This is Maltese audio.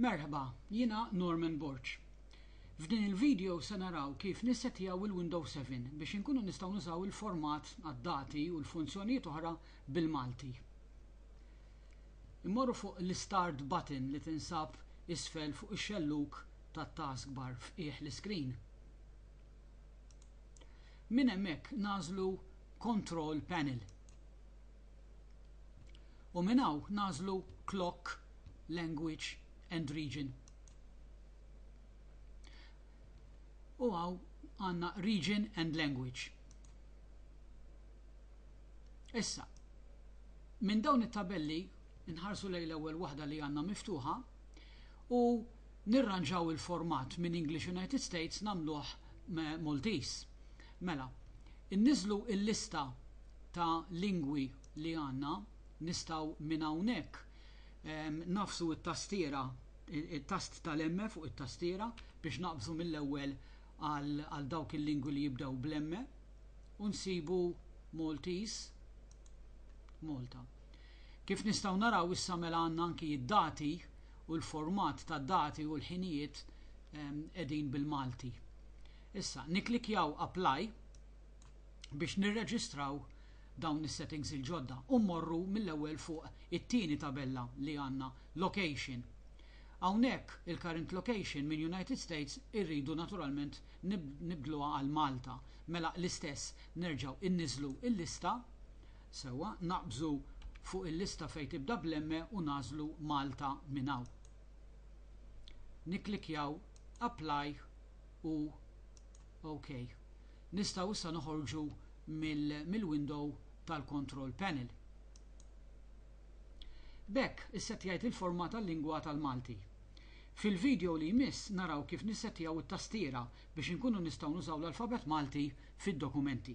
Merħba, jiena Norman Borg. F'din il-video se naraw kif nissettjaw il-Windows 7 biex inkunu nistgħu nużaw il-format għad-dati u l-funzjonijiet oħra bil-Malti. Immorru fuq l-Istart button li tinsab isfel fuq ix-xellug tat-taskbar f'qiegħ l-iskrin. Minn hemmhekk nagħżlu Control Panel. u minn hawn nagħżlu Clock, Language and Region. U hawn għandna Region and Language. Issa, minn dawn it-tabelli nħarsu lejn l-ewwel waħda li għandna miftuħa u nirranġaw il-format minn English United States nagħmluh Maltese. Mela, inniżlu l-lista ta' lingwi li għandna nistgħu minn hawnhekk ehm, nafsu t-tastiera it-tast tal-emme fuq it-tastiera biex naqbżu mill-ewwel għal dawk il-lingwi li jibdew bl-emme u nsibu Maltese Malta. Kif nistgħu naraw issa mela għandna anki d-dati u l-format ta' dati u l-ħinijiet qegħdin bil-Malti. Issa, niklikjaw apply biex nirreġistraw dawn is-settings il-ġodda u mmorru mill-ewwel fuq it-tieni tabella li għandna Location. Hawnhekk il-current location minn United States irridu naturalment nibdluha għal Malta. Mela l-istess nerġgħu inniżżlu l-lista, sewwa, naqbżu fuq il-lista fejn tibda bl-emme u nagħżlu Malta minn hawn. Nikklikkjaw Apply u Ok. Nistgħu issa noħorġu mill-window tal-control panel. B'hekk issettjajt il-format għal-lingwa tal-Malti. Fil-video li jmiss naraw kif nissettjaw it-tastiera biex inkunu nistgħu nużaw l-alfabet Malti fid-dokumenti.